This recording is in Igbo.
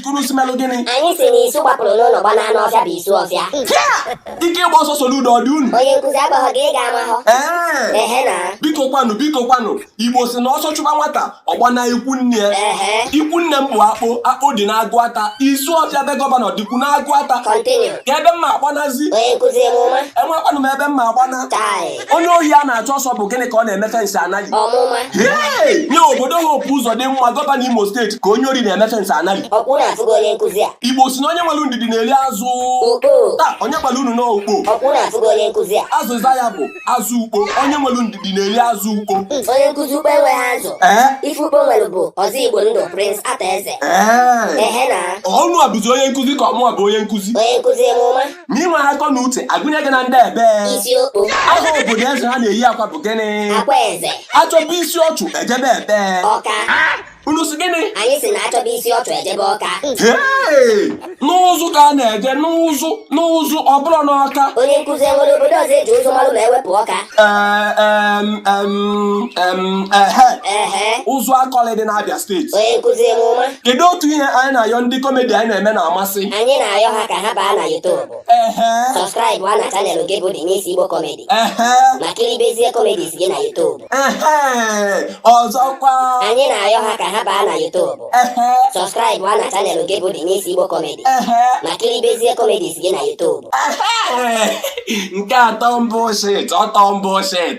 Kwuru si melụ gịnị? Anyị si n'isu gbapụrụ n'ụlọ gbana n'ọfịa bụ Isuọfịa. Ike ịgba ọsọ Soludo ọ dị unu. Onye nkụzi agbaghọ gị ị ga-ama hụ. Ee. Ehe na. Biko kwanụ, biko kwanụ. Igbo si na ọsọ chụba nwata, ọ gbana ikwu nne ya. Ehe. Ikwu nne m bụ Akpo, Akpo dị n'Aguata. Isuọfịa be gọvanọ dịkwu n'Aguata. Continue. Kee ebe m ma-agbanazi. Onye nkụzi emume. Enwekwanụ m ebe m ma-agbana. Chai. onye ohi a na-achụ ọsọ bụ gịnị ka ọ na-eme fensị a na-alị nye obodo Hope Ụzọdịmma gọvanọ imo steeti ka onye ori na-eme fensị a na-alị igbo si na onye nwere ndidi na-eri azụ taa onye gbara unu na ukpo azịza ya bụ azụ ukpo onye nwere ndidi na-eri azụ ukpo onye nkụzi ukpo enweghị azụ ife ukpo nwere bụ Ọzọigbondụ prince Arthur Eze ọ unuwa bụzi onye nkụzi ka ọ mụwa bụ onye nkụzi ma i nwee akọ na uche agụnye gị na ndị ebe aha obodo eze ha na-eyi akwa bụ gịnị achọba isi ọchụ ejebe ebe unu si gịnị anyị si na achọba isi ọchụ ejebe ọka n'ụzụ ka a na-eje n'ụzụ n'ụzụ ọ bụrụ n'ọka onye nkụzi enwere obodo ọzọ eji ụzụ malụ ma ewepụ ọka Ụzụakọlị dị n'Abia steeti onye nkụzi emume kedu otu ihe anyị na-ayọ ndị kọmedi anyị na-eme na-amasị anyị na-ayọ ha ka ha baa na YouTube sọbskraịbụa na chanelụ gị bụ Denise Igbo Comedy ma kiribezie comedies gị na YouTube ọzọkwa anyị na-ayọ ha ka ha baa na YouTube sọbskraịbụa na chanelụ gị bụ Denise Igbo Comedy ma kiribezie comedies gị na YouTube nke atọ mbụ shit ọtọ mbụ shit